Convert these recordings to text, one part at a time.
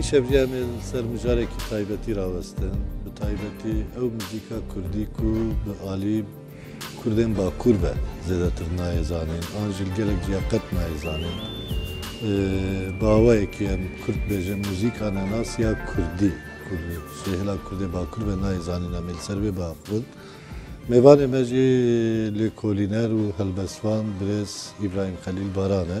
Îşev jî em ê li ser mijarekî taybetî rawestin, bi taybetî ew muzîka kurdî ku bi alî kurdên bakur be zêdetir nayê zanîn an jî li gelek cîya qet nayê zanîn. Bi awayekî em kurd bêjin muzîka ne nas ya kurdî ku li şêhila kurdê bakur be nayê zanîn em ê li ser vê biaxivin. Mêvanê me jî lêkolîner û helbestvan birêz Îbrahîm Xelîl Baran e.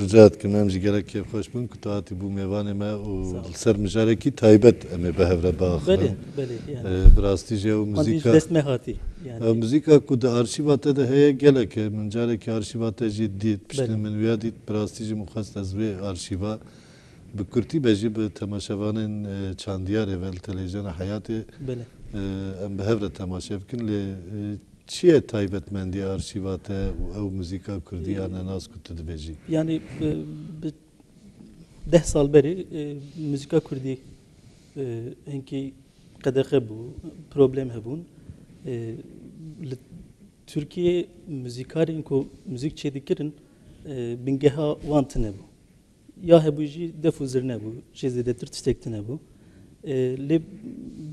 Rica dikim em jî gelek kêfxweş bûn ku tu hatî bû mêvanê me û li ser mijarekî taybet em ê bi hev re biaxivin. Bi rastî jî ew muzîka ew muzîka ku di arşîva te de heye gelek e. Min carekî arşîva te jî dît. Piştî min wiya dît. Bi rastî jî min xwest ez wê arşîva bi kurtî be jî bi temaşevanên Çandiyarê ve li televîzyona Heyatê em bi hev re temaşe bikin. Lê Çi ye taybetmendî arşîva te û ew muzîka kurdî ya nenas ku tu dibêjî? Yanî bi deh sal berê muzîka kurdî hinkî qedexe bû, problem hebûn. Li Tirkiyeyê muzîkarên ku muzîk çêdikirin bingeha wan tune bû. Ya hebû jî def û zirne bû, jê zêdetir tiştek tune bû. Lê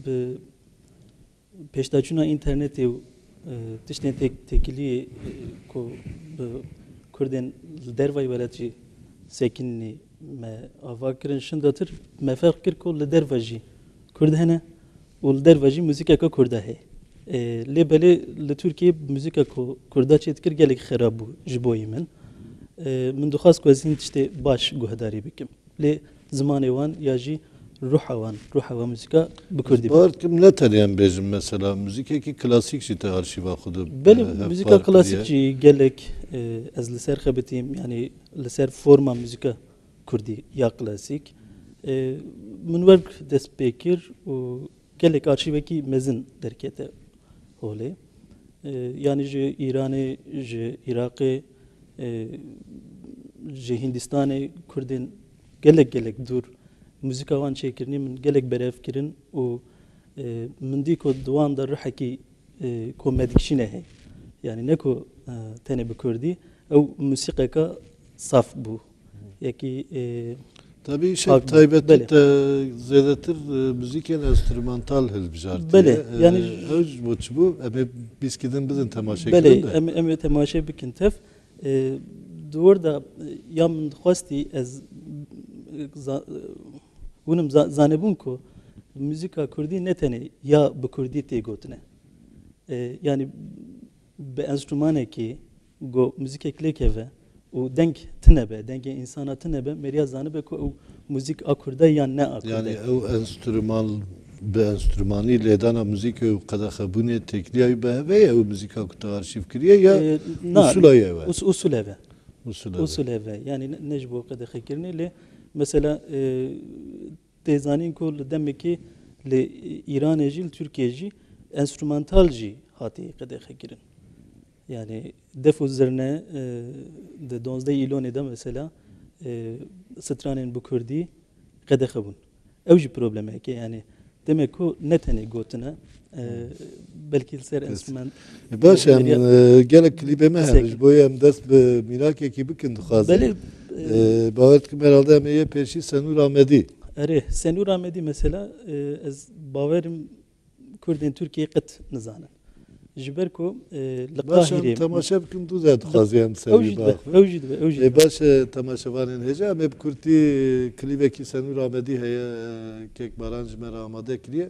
bi Pêşdaçûna înternetê û tiştên têkiliyê ku bi kurdên li dervayî welat jî sekinînê me ava kirin şindatir me ferq kir ku li derve jî kurd hene û li derve jî muzîkeke kurd a heye. Lê belê li Tirkiyeyê bi muzîka ku kurda çê dikir gelek xerab bû ji bo yî min. Min dixwest ku ez hîn tiştê baş guhdarî bikim. Lê Zimanê wan ya jî ruha wan, ruha wan muzîka bi kurdî. Hevpar dikim ne tenê em bêjim mesela muzîkekî klasîk jî te arşîva xwe de hevpar kirîye. Belê muzîka klasîk jî gelek ez li ser xebitîm yanî li ser forma muzîka kurdî ya klasîk min werk dest pê kir û Gelek arşîvekî mezin derkete holê. Yanî ji Îranê, ji Îraqê, ji Hîndistanê kurdên gelek gelek dûr muzîka wan çêkirinî min gelek berev kirin û min dî ku di wan de ruhekî komedikişîne heye. Yanî ne ku tenê bi kurdî, ew musîqeka saf bû. Yekî Tevî şev taybet te zêdetir muzîkên enstrûmantal hilbijartiye. Belê, yanî ew ji bo çi bû? Em ê bîskî din bidin temaşe kirin. Belê, em em ê temaşe bikin tev. Di wir de ya min dixwestî ez winim zanibûm ku muzîka Kurdî ne tenê ya bi Kurdî tê gotin e. Yanî bi enstrûmanekî Ku muzîkek lê keve û deng tune be, dengê însana tune be, mêrîya zanibe ku ew muzîk a kurd e yan ne a kurd e. Yanî ew enstrûman bi enstrûmanî lêdana muzîkê û qedexebûnê têkilîya wî bi hevê ye ew muzîka ku tu arşîv kiriye ya usula ye we? Usul heve. Usul heve. Usul heve. Yanî ne ji bo qedexekirinê lê mesela Tê zanîn ku li demekê li Îranê jî li Tirkiyê jî enstrumantal jî hatiye qedexekirin. Yanî def û zirne di donzdeh îlonê de mesela stranên bi kurdî qedexe bûn. Ew jî problemeke yanî demek ku ne tenê gotin e. belkî li ser enstrument baş em gelek klîbê me hene ji boyê em dest bi mîrakekî bikin dixwazin bawer dikim herhalde em ê yê pêşî senûr amedî erê senûr amedî mesela ez bawerim kurdên Tirkiyeyê qet nizanin ji ber ku li qahirê temaşe bikim dû de dixwazê em ser ew jî dibe ew jî baş temaşevanên hêja em ê bi kurtî klîbekî senûr amedî heye kekbaran ji me re amade kiriye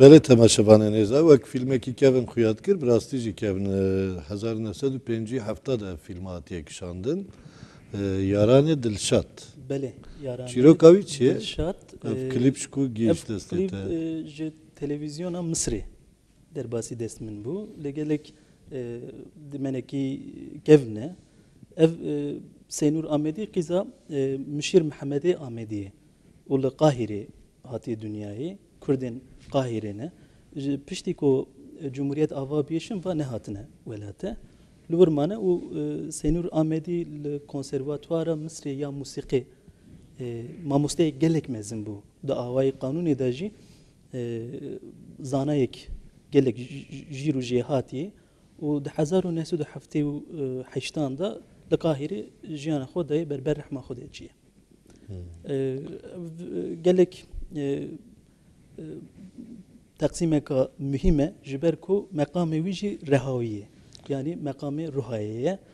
Belê temaşevanên hêza wek fîlmekî kevn xuya dikir bi rastî jî kevn hezar û neh sed û pêncî hefta de ev fîlme hatiye kişandin Yaranê Dilşat. Belê Yaranê Çîroka wî çi ye? Dilşat. Ev klîp ji ku gihîşt destê te? Ji televîzyona Misirê. Derbasî dest min bû lê gelek dimenekî kevne. Ev Seynûr Amedî qîza Mişîr Mihemedê Amedî ye û li Qahîrê hatiye dinyayê. Kurdên Qahîrê ne. Ji piştî ku Cumhuriyet ava bûye şin va nehatine welate. Li wir mane û Seynûr Amedî li Konservatuara Misrê ya Musîqê mamosteyek gelek mezin bû. Di awayê qanûnê de jî Zanayek gelek jîr û jêhatî û di hezar û neh sed û heftê û heştan de li Qahîrê jiyana xwe dayê ber ber rehma Xwedê çi ye. Gelek teqsîmeke muhîm e ji ber ku meqamê wî jî rehawiye. Yanî meqamê ruhayê ye.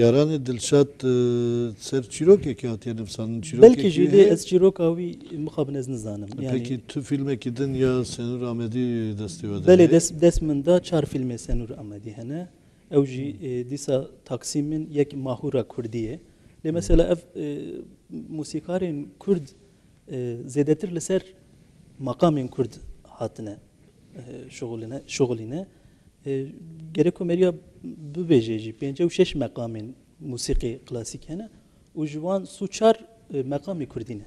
Yaranê Dilşat ser çîrokekî hatiye nivîsandin. Belkî jî lê ez çîroka wî mixabin ez nizanim. Pekî tu fîlmekî din ya Senûr Amedî destê we de heye? Belê dest min de çar fîlmê Senûr Amedî hene. Ew jî dîsa Taksîmîn yek mahûra kurdî ye. Lê mesela ev mûsîkarên kurd zêdetir li ser maqamên kurd hatine şixulîne. Gerek ku Maria bibêje jî pênc û şeş meqamên musîqê klasîk hene û ji wan sû çar meqamê kurdî ne.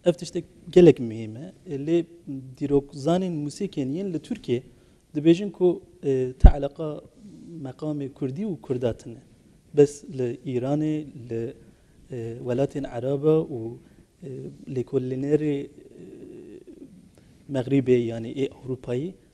Ev tiştek gelek muhîm e. Lê dîrokzanên musîkên yên li Tirkiyê dibêjin ku ti eleqa meqamê kurdî û kurda tine. Bes li Îranê, li welatên Erabe û lêkolînerê Mexrîbê yanî ê Ewropayî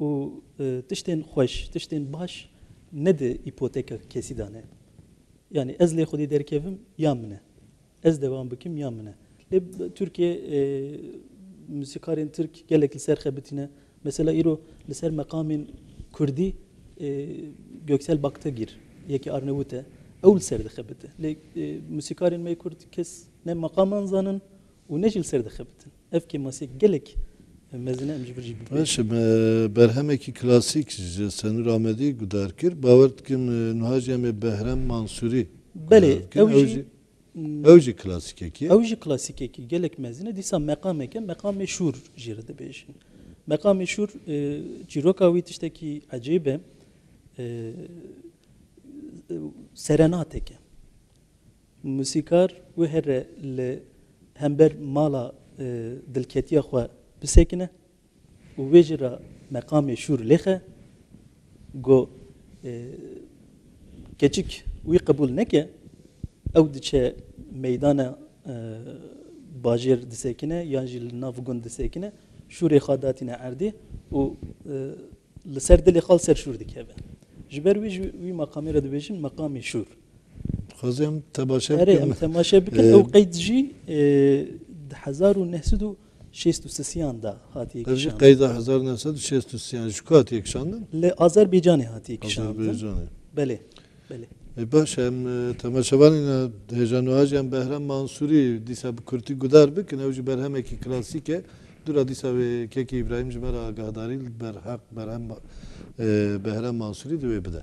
Û tiştên xweş, tiştên baş ne di îpoteka kesî de ne. Yanî ez lê xwedî derkevim ya min e. Ez devam bikim ya min e. Lê Tirkiyê musîkarên Tirk gelek li ser xebitîne. Mesela îro li ser meqamên Kurdî Göksel Baktagîr, yekê Arnewut e. Ew li ser dixebite. Lê musîkarên me Kurd kes ne meqaman zanin, Û ne jî li ser dixebitin. Ev kêmasiyek gelek mezin e em ji vir jî bibêjin. Baş e, me berhemekî klasîk ji Senûr Amedî gudar kir. Bawer dikim nuha jî em ê Behrem Mansûrî Belê, ew jî ew jî klasîkekî ye. Ew jî klasîkekî gelek mezin e. Dîsa meqamek e, meqamê şûr jî re dibêjin. Meqamê şûr çîroka wî tiştekî ecêb e. Serenateke. Musîkar wê here li hember mala dilketiya xwe bisekine û wê jî re meqamê şûr lêxe ku keçik wî qebûl neke, ew diçe meydana bajêr disekine yan jî li nav gund disekine, şûrê xwe datîne erdê û Li ser dilê xal ser şûr dikeve. Ji ber wî ji wî maqamê re dibêjin meqamê şûr. Dixwazê em temaşe bikin. Erê em temaşe bikin. Ew qeyd jî di hezar û neh sed û şêst û sisiyan de hatiye kişandin. Ev jî qeyda hezar û neh sed û şêst û sisiyan ji ku hatiye kişandin? Li Azerbeycanê hatiye kişandin. Azerbeycanê. Belê. Baş e, em temaşevanên hêja nuajiyan Behrem Mansûrî dîsa bi kurtî gudar bikin. Ew jî berhemekî klasîk e. Dûra dîsa wê Kekê Îbrahîm ji me re agahdarî li berheq berhem Behrem Mansûrî di wê bide.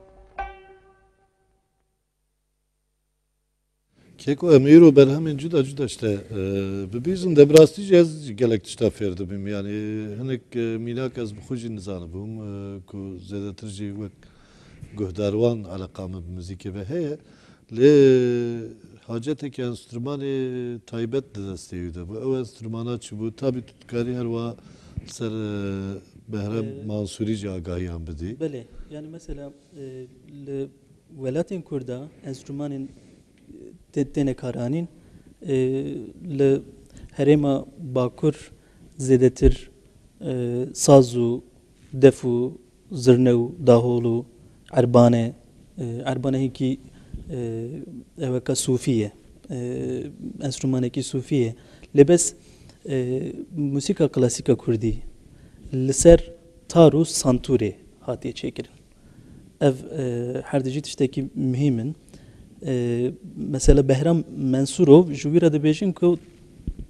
Kê ku em îro berhemên cuda cuda işte bibîzin de bi rastî jî ez gelek tişta fêr dibim. Yanî hinek mînak ez bi xwe jî nizanibûm ku zêdetir jî wek guhdarwan eleqa min bi muzîkê ve heye. Lê haceteke enstrûmanê taybet di destê wî de bû. Ew enstrûmana çi bû? Tabî tu dikarî her wiha li ser Behrem Mansûrî jî agahiyan bidî. Belê, yanî mesela li welatên Kurd de enstrûmanên têne karanîn li herêma Bakur zêdetir saz û Def û zirne û dahol û erbane, erbane hinkî eweka sûfî ye, enstrûmanekî sûfî ye. Lê bes mûsîka klasîka kurdî li ser tar û santûrê hatiye çêkirin. Ev her di jî tiştekî muhîm in. Mesela Behram Mensûrov ji wî re dibêjin ku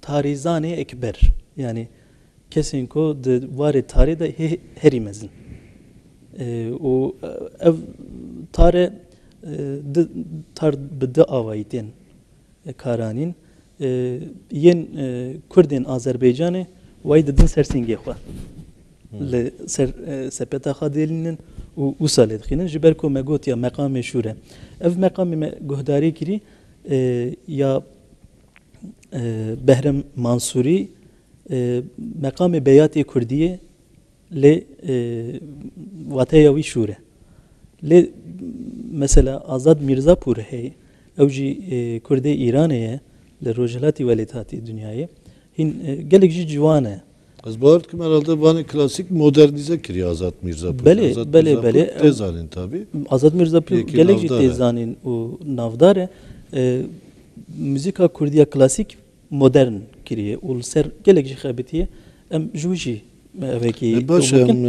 tarîzanê ekber yanî, Kesên ku di warê tarê de hê herî mezin û ev tar e di tar bi di awayî tên karanîn yên kurdên Azerbaycanê wayî didin ser singê xwe li ser sepeta xwe dêlînin û wisa lê dixînin ji ber ku me gotiya meqamê şûr e ev meqamê me guhdarî kirî ya Behrem Mansurî Meqamê beyat ê kurdî ye lê wateya wî şûr e. Lê mesela Azad Mîrzapûr heye, ew jî kurdê Îranê ye li Rojhilatî Welêtatê Dinyayê. Hîn gelek jî ciwan e. Ez bawer dikim herhalde vanê klasîk modernîze kiriye Azad Mîrzapûr. Belê, belê, belê. Tê zanîn tabî. Azad Mîrzapûr gelek jî tê zanîn û navdar e. Muzîka kurdî ya klasîk modern kiriye û li ser gelek jî xebitiye em ji wî jî evekî E baş e em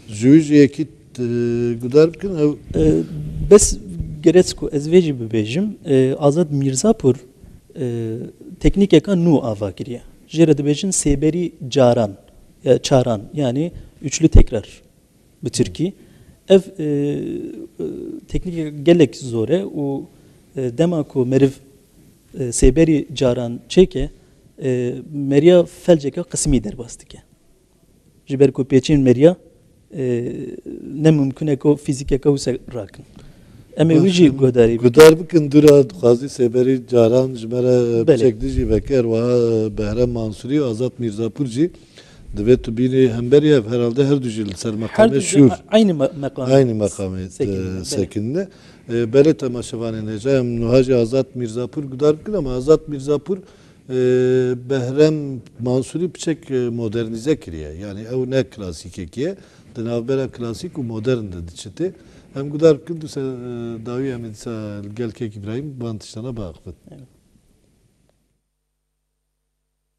ji wî jî yekî guhdar bikin ew bes gerek ku ez vê jî bibêjim Azad Mîrzapur teknîkeka nû ava kiriye jê re dibêjin sêberî caran ya çaran yanî üçlü tekrar bi tirkî ev teknîkeke gelek zor e û dema ku meriv Sêberî caran çêke meriya felceke qisimî derbas dike. Ji ber ku pêçên meriya ne mumkin e ku fîzîkeke wisa rakin. Em ê wî jî guhdarî bikin. Guhdar bikin dûra dixwazî sêberî caran ji me re çek dijî veke. Her wiha Behrem Mansurî û Azad Mîrzapûr jî Divê tu bînî hemberî ev heralde her du jî li ser meqamê şûr eynî meqamê sekinine. Belê temaşevanên hêja em nuha jî Azad Mîrzapur gudar bikin ama Azad Mîrzapur Behrem Mansurî piçek modernîze kiriye. Yanî ew ne klasîkekî ye. Di navbera klasîk û modern de diçitê. Em gudar bikin dûsa dawî em ê dîsa li gel Kêk Îbrahîm van tiştana biaxivin.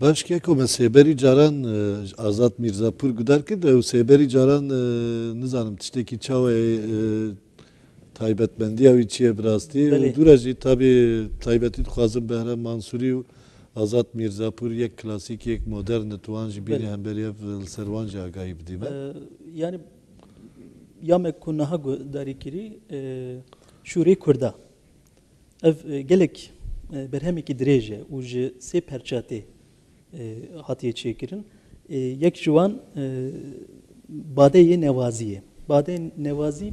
Başke ku me sêberî caran ji Azad Mîrza Pûr gudar kir ew sêberî caran nizanim tiştekî çawa ye taybetmendiya wî çi ye bi rastî û dû re jî tabî taybetî dixwazim Behram Mansurî û Azad Mîrza Pûr yek klasîk yek modern ne tu wan jî bînî hemberî ev li ser wan jî agahî bidî me. Yanî ya me ku niha guhdarî kirî şûrê kurd e. Ev gelek berhemekî dirêj e û ji sê perçe tê hatiye çêkirin. Yek ji wan badeyê newazî ye. Badeyê newazî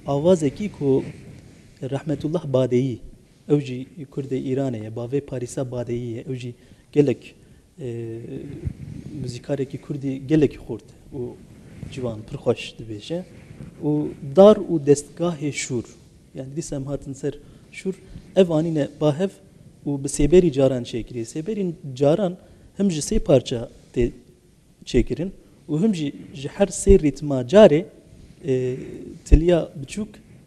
awazekî ku Rehmetullah Badeyî ew jî Kurdê Îranê ye, bavê Parîsa Badeyî ye, ew jî gelek Muzîkarekî kurdî gelekî xurt û ciwan pir xweş dibêje û dar û destgahê şûr yanî dîsa em hatin ser şûr ev anîne ba hev û bi sêberî caran çêkirî. Sêberîn caran him ji sê parça tê çêkirin û him jî ji her sê rîtma carê tiliya biçûk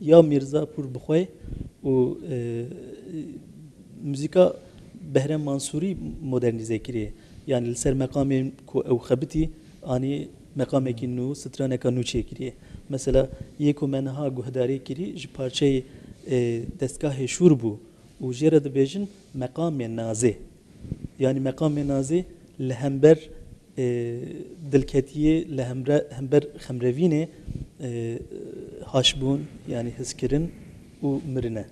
Ya Mîrza Pûr bi xwe û muzîka Behrem Mansûrî modernîze kiriye. Yanî li ser meqamê ku ew xebitî anî meqamekî nû, straneka nû çêkiriye. Mesela yê ku me niha guhdarî kirî ji parçeyê Destgahê Şûr bû û jê re dibêjin meqamê Nazê. Yanî meqamê Nazî li hember dilketiyê, li hember xemrevînê haşbûn yanî hizkirin û mirin e.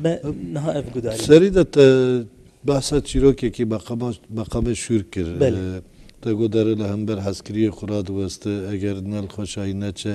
Me niha ev gudarî. Serî de te behsa çîrokekî meqamê Şûr kir. Te got ere li hember hezkiriyê xwe radiweste eger ne li xwe şayî neçe.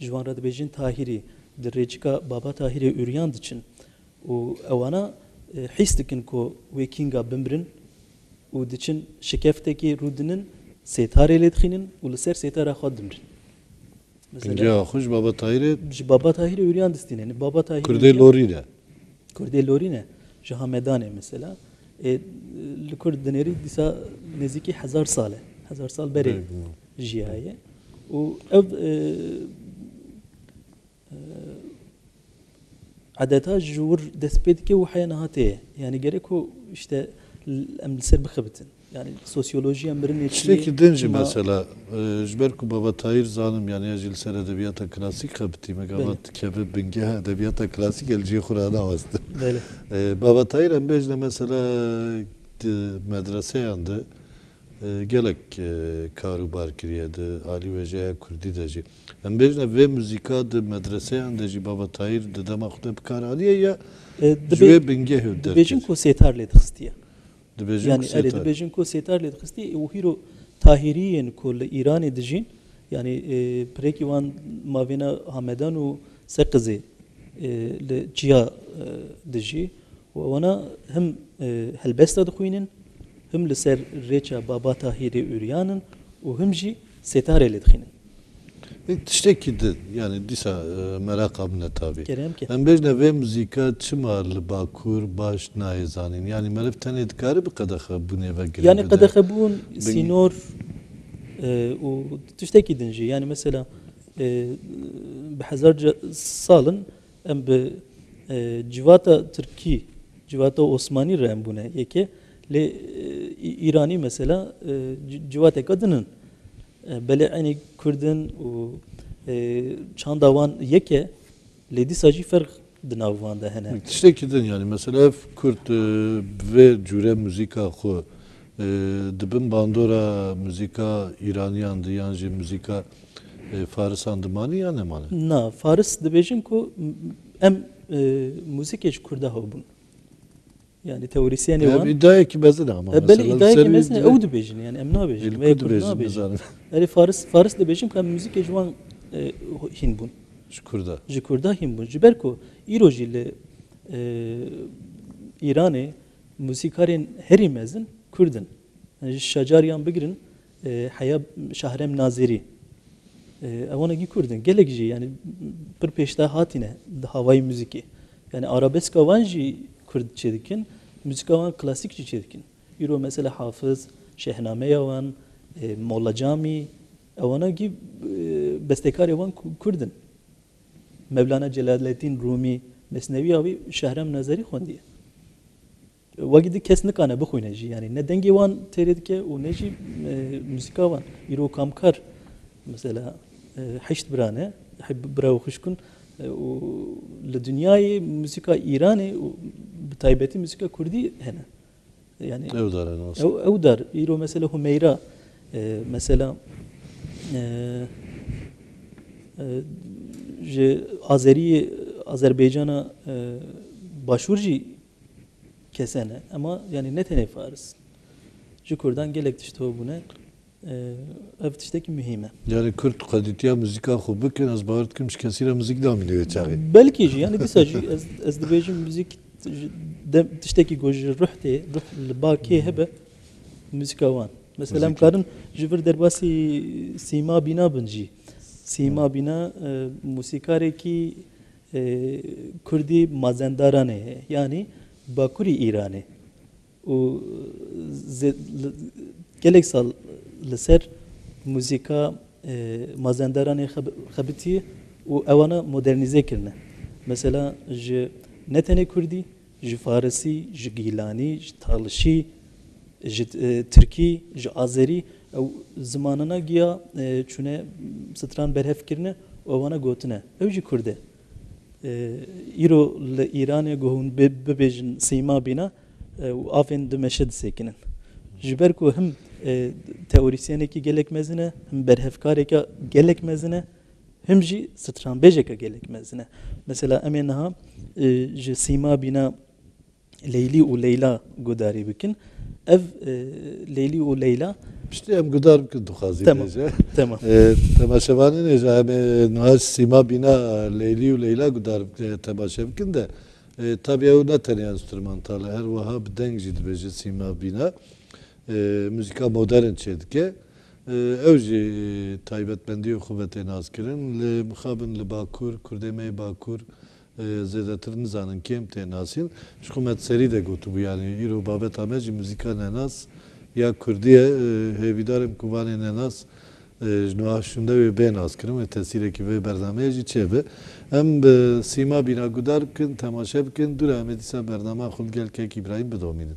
Ji wan re dibêjin Tahîrî, di rêcika Baba Tahîrê Uryan diçin û ewana hîs dikin ku wê kînga bimirin û diçin şikeftekê rû dinin, sêtarê lê dixînin û li ser sêtara xwe dimirin. Mesela, Penceya xwe ji Baba Tahîrê. Ji Baba Tahîrê Uryan distînin. Baba Tahîrê Uryan. Kurdê lorî ne. Kurdê lorî ne. Ji hamedanê mesela. Ê li Kurd dinêrî dîsa nêzîkî hezar sal e. Hezar sal berê jiyaye û ev edeta ji wir dest pê dike û heya niha tê ye. Yanî gerek ku işte em li ser bixebitin. Yani sosyolojiya mirinê çi ye? Ştêkî din jî mesela ji ber ku Baba Tahîr zanim yani ez jî li ser edebiyata klasîk xebitî me gava dikeve bingeha edebiyata klasîk li cihê xwe re anawestin. Baba Tahîr em bêjine mesela di medreseyan de Gelek kar û bar kiriye di alî wêjeya kurdî de jî. Em bêjne vê muzîka di medreseyan de jî Baba Tayîr di dema xwe de bi kar aliye ya ji wê bingehê derketiye? Dibêjin ku sêtar lê dixistiye. Dibêjin ku sêtar. Erê dibêjin ku sêtar lê dixistiye û hîro Tahîriyên ku li Îranê dijîn yanî pirekî wan mavêna hamedan û sê qizê li çiya dijî Û wana him helbesta dixwînin, him li ser rêça Baba Tahîrê Ûryan in û him jî sêtarê lê dixînin. Ê tiştekî din, yanî dîsa meraqa min e tavî. Kerem ke. Em bêjne vê muzîka çima li Bakur baş nayê zanîn? Yanî meriv tenê dikare bi qedexebûnê ve girê bide? Yanî qedexebûn, sînor û tiştekî din jî. Yanî mesela bi hezarca sal in, Em bi civata tirkî, civata osmanî re em bûne yekê. Lê îranî mesela civateke din in. Belê eynî kurd in û çanda wan yek e lê dîsa jî ferq di nav wan de hene. Tiştekî din yanî mesela ev kurd bi vê cûre muzîka xwe Di bin bandora muzîka îraniyan de yan jî muzîka farisan dimanî ya nemane? Na, faris dibêjin ku em muzîkê ji kurda hev bûn. Yani teorisyenê wan. Ev îdayekî mezin e ama. Belê îdayekî mezin e ew dibêjin yani em nabêjin. Ew dibêjin nizanim. Erê faris faris dibêjin ku em muzîkê ji wan hîn bûn. Ji kurda. Ji kurda hîn bûn. Ji ber ku îro jî li Îranê Mûsîkarên herî mezin Kurd in. Ji şecariyan bigirin heya Şahrem Nazîrî. Ewanegî Kurd in. Gelek jî yanî pir pêşde hatîne di havayî mûzîkê. Yanî arabeska wan jî Kurd çê dikin, mûzîka wan klasîk jî çê dikin. Îro mesela Hafiz, Şehnameya wan, Molla Camî, ewanegî bestekarê wan Kurd in. Mevlana Celaleddîn Rûmî mesnewîya wî Şehrem Nezerî xwendiye. Wegî di kes nikane bixwîne jî yanî ne dengê wan têrê dike û ne jî muzîka wan. Îro kamkar mesela heşt bira ne, bira û xişk in û li dinyayê muzîka Îranê û bi taybetî muzîka kurdî hene. Yani ew dar en was. Ew ew dar îro mesela Humeyra mesela ji Azeriyê Azerbaycana başûr jî kese ne. Ema yani ne tenê Fars. Ji Kurdan gelek tişt hebûne. Ev tiştekî muhîm e. Carê Kurd xwedîtiya muzîkan xwe bikin, ez bawer dikim ji kesî re muzîk namîne wê çaxê. Belkî jî yanî dîsa jî ez dibêjim muzîk tiştekî ku ji ruh tê, ruh li ba kê hebe muzîka wan. Mesela em karin ji vir derbasî Sîma Bîna bin jî. Sîma Bîna muzîkarekî Kurdî Mazendaranê ye. Yanî Bakurî Îranê. û gelek sal li ser muzîka mazendaranê xebitiye û ewan a modernîze kirine. Mesela ji ne tenê kurdî, ji farisî, ji gîlanî, ji talişî, ji tirkî, ji azerî ew zimanana giya çûne stran berhev kirine û ewan a gotine ew jî kurd e. Îro li Îranê ku hûn bibêjin sîma bîne û avên di meşe disekinin. Ji ber ku him teorîsyenekî gelek mezin e, him berhevkareke gelek mezin e, him jî stranbêjeke gelek mezin e. Mesela em ê niha ji sîma bîne Leylî û Leyla gudarî bikin. Ev Leylî û Leyla Piştî em gudar bikin dixwazî Tamam, bêje. tamam. Temaşevanênê ji em ê niha ji sîma bîna Leylî û Leyla gudar temaşe bikin de tabiya ew ne tenê enstrümantal e her wiha bi deng jî dibêje sîma bîna muzîka modern çê dike. Ew jî taybetmendiyên xwe vetê naskirin. Li mixabin li Bakur, kurdê me yê Bakur Zêdetir nizanin kêm tê nasîn. Ji xwe me di serî de gotibû yanî îro babeta me jî muzîka nenas ya kurdî ye. Hêvîdarim ku vanê nenas ji niha şûnde wê bê naskirin, wê tesîrekî vê bernameyê jî çêbe. Em bi Sîma bîna guhdar bikin, temaşe bikin. Dû re em ê dîsa bernama xwe li gel Kek Îbrahîm bidomînin.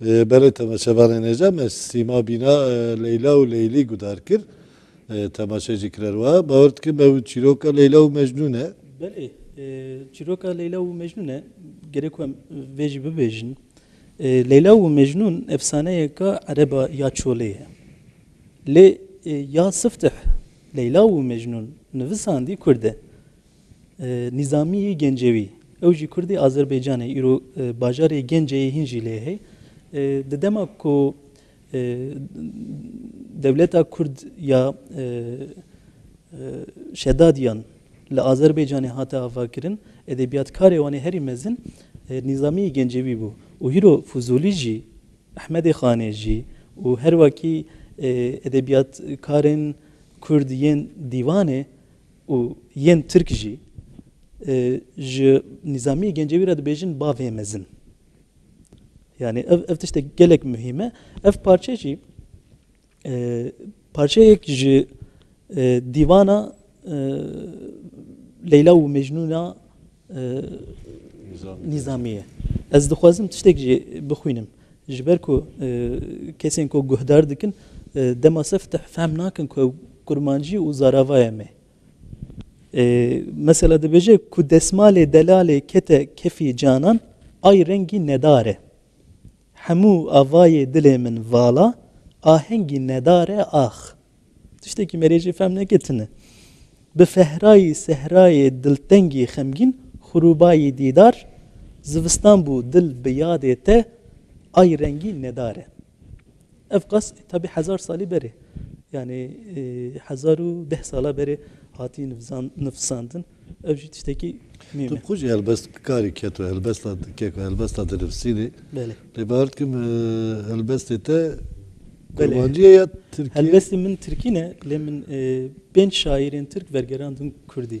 Belê temaşevanên hêja me sîma bîna Leyla û Leylî gudar kir. Temaşe jî kirer wiha. Bawer dikim ew çîroka Leyla û Mecnûn e? Belê, çîroka Leyla û Mecnûn e. Gerek ku em vê jî bibêjin. Leyla û Mecnûn efsaneyeka ereba ya çolê ye. Lê ya Siftih Leyla û Mecnûn nivisandî kurd e. Nîzamî yê Gencewî, ew jî kurd ê, Azerbaycan e, îro bajarê Genceyê hîn jî lê heye. Di dema ku dewleta kurd ya şedadiyan li Azerbaycanê hate avakirin, edebiyatkarê wan ê herî mezin Nîzamî yê Gencewî bû û hîro Fuzulî jî, Ehmedê Xanê jî û her wekî edebiyatkarên kurd yên dîwanê, û yên Tirk jî ji Nîzamiyê Gencewî re dibêjin bavê mezin. Yanî ev ev tiştek gelek muhîm e. Ev parçe jî parçeyek ji dîwana Leyla û Mecnûna Nîzamî ye. Ez dixwazim tiştek jî bixwînim. Ji ber ku kesên ku guhdar dikin dema seft tih fehm nakin ku ew kurmancî û zaravaye me. Mesela dibêje ku desmalê delalê kete kefî canan ay rengî nedar e. Hemû avayê dilê min vala, ahengî nedar e ax. Tiştekî me rê jê fehm neke tin e. Bi fehrayî sehrayê diltengî xemgîn xurûbayî dîdar, zivistan bû dil bi yadê te ay rengî nedar e. Ev qas tabî hezar salî berê yanî hezar û deh sala berê hatî nivsandin ev jî tiştekî nû ye. Tu xwe jî helbest bi karî ke tu helbesta dike ku helbesta dinivsînê. Belê. Lê bawer dikim helbestê te kurmancî ye ya tirkî ye? Helbestê min tirkî ne lê min pênc şaîrên tirk vergerandin kurdî.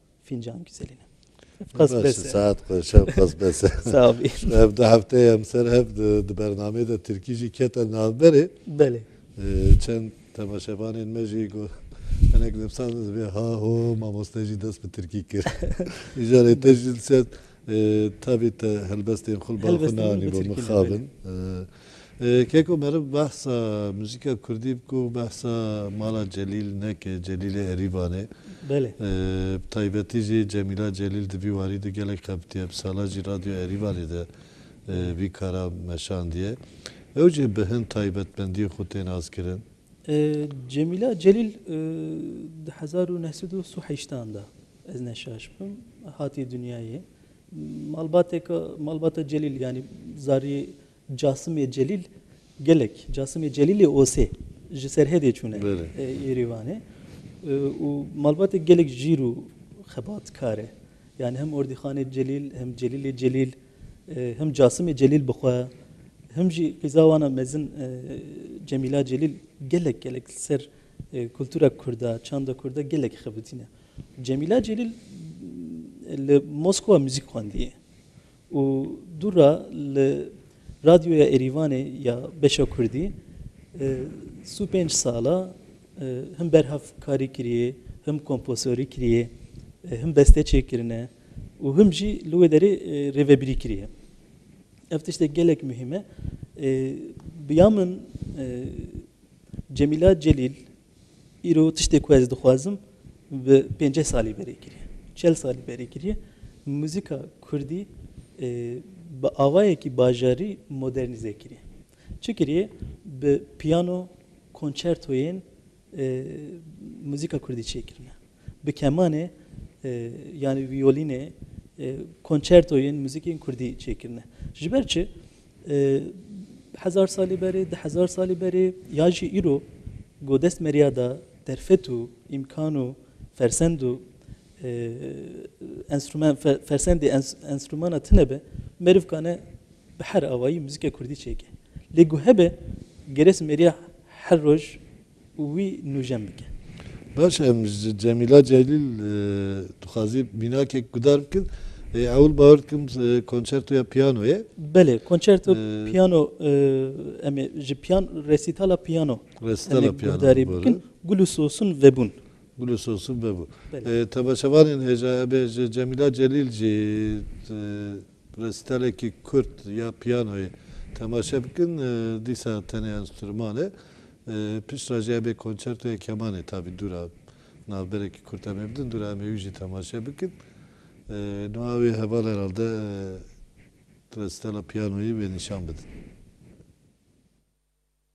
Fincan güzeli ne. Qas bese. Saat qas qas bese. Sağ ol. Ev de hafteye em ser ev di bernameyê de Tirkî jî kete navberê. Belê. Çend temaşevanên me jî got hinek lebsan vê ha ho mamoste jî dest bi Tirkî kir. Îjarê te jî ser tavê te helbestên xwe li bar xwe neanî bo mixabin. Keko meriv behsa muzîka kurdî bike û behsa mala Celîl neke, Celîlê Erîvanê. Belê. Bi taybetî jî Cemîla Celîl di vî warî de gelek xebitiye. Bi salan jî Radyo Erîvanê de vî kara meşandiye. Ew jî bi hin taybetmendiyên xwe tên azkirin. Cemîla Celîl di hezar û neh sed û si û heşt an de, ez ne şaş bim, hatiye dinyayê. Malbateke, malbata Celîl yanî zarî Casimê Celîl gelek Casimê Celîlê Osê ji Serhedê çûne Yêrîvanê û malbatê gelek jîr û xebatkar e. Yanî hem Ordîxanê Celîl, hem Celîlê Celîl, hem Casimê Celîl bi xwe, hem jî qîza wana mezin Cemîla Celîl gelek gelek li ser kultura kurd a, çanda kurd a gelek xebitîne. Cemîla Celîl li Moskowa muzîk xwendiye Û dûra li Radyoya Êrîvanê ya beşa Kurdî sî û pênc sala him berhev karî kirîyê, him komposorî kirîyê, him beste çêkirine û him jî li wê derê rêvebirî kirîye. Ev tiştek gelek muhîm e. Bi ya min Cemîla Celîl, Îro tiştê ku ez dixwazim bi pênceh salî berê kiriye, çel salî berê kiriye, muzîka kurdî bi awayekî bajarî modernîze kiriye. Çi kiriye? Bi piyano konçertoyên muzîka kurdî çêkirine. Bi kemanê yanî viyolînê konçertoyên muzîkên kurdî çêkirine. Ji ber çi? Hezar salî berê, di hezar salî berê ya jî îro ku dest meriya da derfet û îmkan û fersend û enstrûman fersendê enstrûmana tune be meriv kane bi her awayî muzîka kurdî çêke. Lê ku hebe gerê simeriya her roj û wî nûjen bike. Baş e, Cemîla Celîl dixwazî mînakek guhdar bikin. Ewil bawer dikim konçertoya piyano ye. Belê, konçerto piyano em ê ji piyan resîtala piyano em ê guhdarî bikin. Gul û sosun vebûn. Gul û sosun vebûn. Tebeşevanên hêja ebe ji Cemîla Celîl jî. Resîtalekî kurt ya piyanoyê temaşe bikin, dîsa tenê enstrûman e. Piştre jî ebe konçerto ya kemanê tabî dûr a. Navberekî kurt em ê bidin dûr a em ê wî jî temaşe bikin. Niha wê heval herhalde resîtala piyanoyê wê nîşan bidin.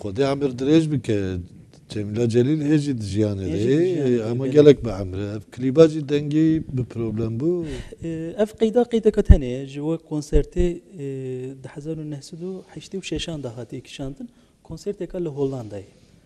Xwedê emir dirêj bike Cemîla Celîl hê jî di jiyanê de yê hema gelek bi emir e. Ev klîba jî dengê bi problem bû. Ev qeyda qeydeke tenê ye ji we konsertê di hezar û neh sed û heştê û şeşan de hatiye kişandin, konserteke li Hollandayê.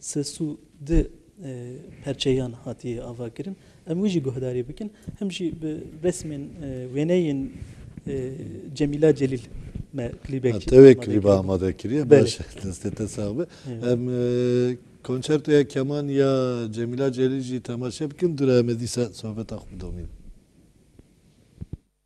Sês û du perçeyan hatiye avakirin. Em wî jî guhdarî bikin. Him jî bi resmên wêneyên Cemîla Celîl me klîbek jî Tevê klîba amade kiriye. Baş e. Destê te sax be. Em konçertoya keman ya Cemîla Celîl jî temaşe bikin. Dû re em ê dîsa sohbeta xwe bidomînin.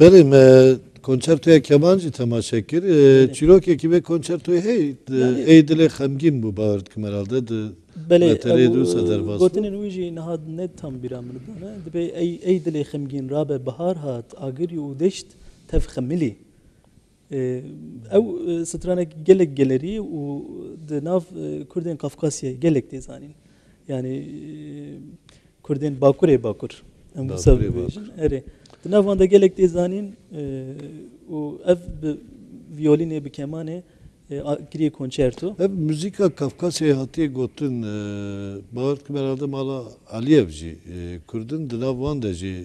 Belê me konçertoya keman jî temaşe kir. Çîrokekî vê konçertoyê heye êyî dilê xemgîn bû bawer dikim herhalde di meterê de wisa derbas bû. Gotinên wî jî niha ne tam bîra min de ne. Dibê êyî dilê xemgîn rabe bihar hat agirî û deşt tev xemilî. Ew stranek gelek gelerî û di nav Kurdên Kafkasyayê gelek tê zanîn. Yanî Kurdên Bakurê Bakur em wisa bibêjin. Erê di nav wan de gelek tê zanîn û ev bi viyolînê bi kemanê kiriye konçerto. Ev muzîka Kafkasyayê hatiye gotin bawer dikim herhalde mala Aliyev jî Kurd in di nav wan de jî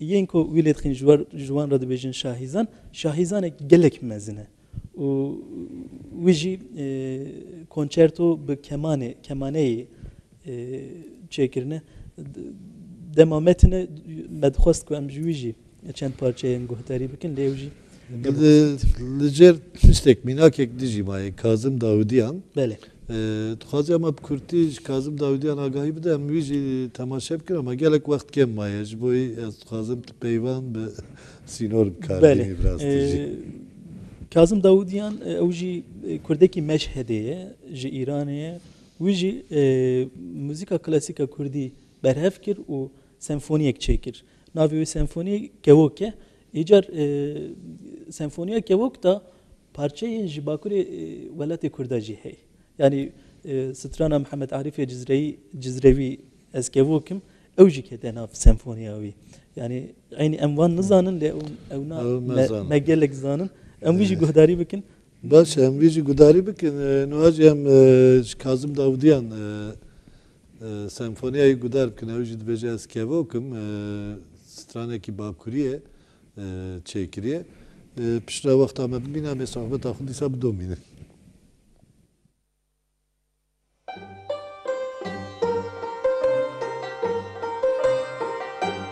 Yên ku wî lê dixin ji wan ji wan re dibêjin şahîzan, şahîzanek gelek mezin e û wî jî konçerto bi kemanê kemaneyê çêkirine. Dema me tune me dixwest ku em ji wî jî çend parçeyên guhdarî bikin lê ew jî. Li jêr tiştek mînakek dijî maye Kazim Dawidîyan. Belê. Dixwaze ema bi kurtî ji Kazim Dawidîyan agahî bide em wî jî temaşe bikin ema gelek wext kêm maye ji bo wî ez dixwazim tu peyvan bi sînor bikarinî bi rastî jî. Kazim Dawidîyan ew jî kurdekî Meşhedê ye ji Îranê ye. Wî jî muzîka klasîka kurdî berhev kir û senfoniyek çêkir. Navê wê senfoniyê Kewok e. Îcar senfoniya kevok de parçeyên ji bakurê welatê Kurda jî hey. Yanî strana Mihemed Arîfê Cizreyî Cizrewî ez kevok im ew jî kete nav senfoniya wî. Yanî eynî em wan nizanin lê ew na me gelek zanin. Em wî jî guhdarî bikin. Baş e em wî jî guhdarî bikin. Niha jî em ji Kazim Dawdiyan Senfoniya yê guder bikine ew jî dibêje ez kevok im stranekî bakurî ye çêkiriye. Piştre wexta me bibîne em ê sohbeta xwe dîsa bidomînin.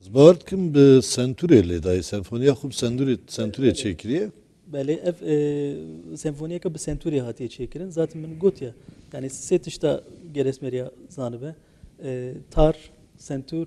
Zbartkim bi sentûrê lê dayê senfoniya xwe bi sendûrê sentûrê çêkiriye. Belê ev e, senfoniyeke bi sentûrê hatiye çêkirin. Zaten min gotiye yani sê tişta geresmeriya zanibe. E, tar, sentûr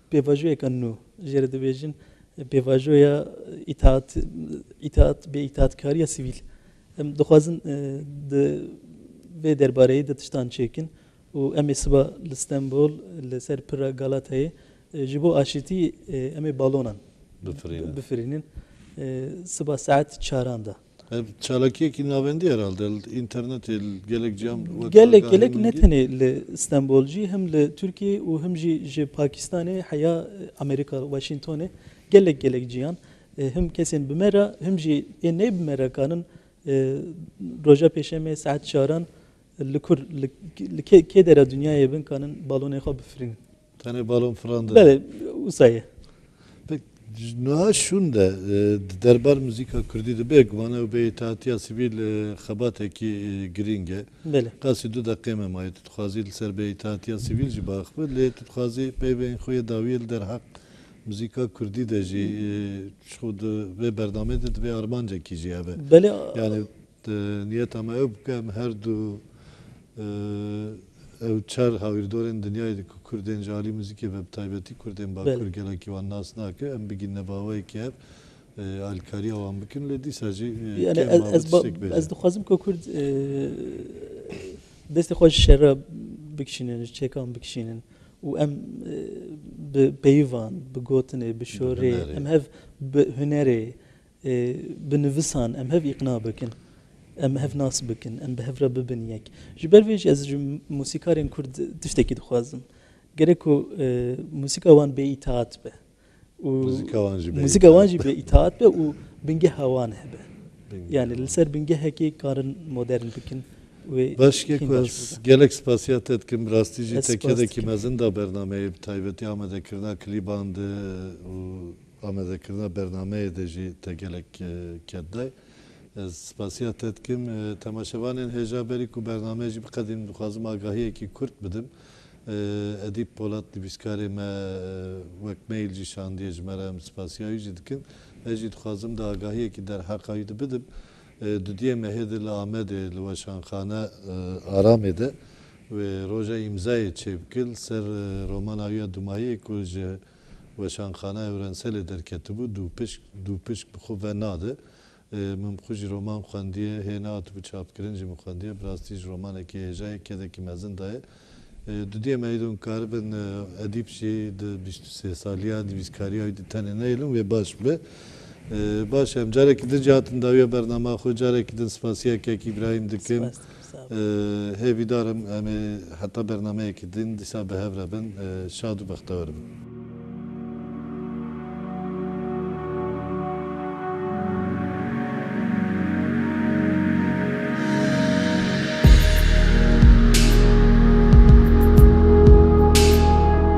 Pêvajoyeka nû jê re dibêjin pêvajoya îtaat îtaat bê îtaatkariya sivîl. Em dixwazin di vê derbareyê de tiştan çêkin û em ê siba li Stenbol li ser pira Galatayê ji bo aşitî em ê balonan bifirînin siba saet çaran de. Ev çalakiyekî navendî herhalde li înternetê li gelek ciyan wek Gelek agahî gelek min ne dît. tenê li Stenbol jî him li Tirkiyê û him jî ji Pakistanê heya Amerîka Washingtonê gelek gelek ciyan e, him kesên bi me re him jî ên ney bi me re karin e, roja pêşemê saet çaran li kur li li kê kê dera dinyayê bin karin balonê xwe bifirînin. Tenê balon firan de. Belê, wisa ye. Pek, niha şûn de di derbar muzîka kurdî de bêguman ew bê îtihatiya sivîl xebatekî girîng e. Belê. Qasî du deqê me maye. Tu dixwazî li ser bê îtihatiya sivîl jî biax bi lê tu dixwazî peyvên xwe yê dawiyê li derheq muzîka kurdî de jî ji xwe di vê bernameyê de divê armancekî jî hebe. Belê. Yanî Di niyeta me ew bûk e, em her du ew çar hawîrdorên dinyayê de ku kurdên ji alî muzîkê ve bi taybetî kurdên bakur gelekî wan nas nake, em bigîn nebaweyekî hev alîkariya wan bikin lê dîsa jî kêm mabe tiştek bêje. Ez dixwazim ku kurd destê xwe ji şera bikişînin, ji çêkan bikişînin û em bi peyvan, bi gotinê, bi şorê, em hev bi hunerê, Bi nivisan em hev îqna bikin, em hev nas bikin, em bi hev re bibin yek. Ji ber vê jî ez ji mûsîkarên kurd tiştekî dixwazim. Gerek ku mûsîka wan bêîtaat be û mûsîka wan jî bêîtaat be û bingeha wan hebe. Yanî li ser bingehekê karin modern bikin. Baş kek ku ez gelek spasiya te dikim. Bi rastî jî te kêdekî mezin da bernameyê bi taybetî amadekirina klîban de û Amedekirina bernameyê de jî te gelek ked day. Ez spasiya te dikim. Temaşevanên hêja berî ku bernameyê jî biqedînin dixwazim agahiyekî kurt bidim. Edîp Polat nivîskarê me wek mail jî şandiye ji me re em spasiya wî jî dikin. Ez jî dixwazim di agahiyekî derheqa wî de bidim. Dudiyê mehê de li Amedê li Weşanxane Aramê de wê roja îmzayê çêbikir li ser romana wî ya Dumahiyê ku ji Weşanxana Ewrenselê derketibû, dû pişk, dû pişk bi xwe ve nade. Min bi xwe jî roman xwendiye, hê nehatibû çapkirin jî min xwendiye, bi rastî jî romanekî hêja ye, kedekî mezin da ye. Dudiyê me hêdon karibin edîb jî di bîst û sê saliya nivîskariya wî de tenê nehêlin wê baş bibe. Baş e, em carekî din jî hatin dawiya bernama xwe, carekî din spasiya Kek Îbrahîm dikim. Hêvîdar im em ê heta bernameyekî din dîsa bi hev re bin. Şad û bextewer bin.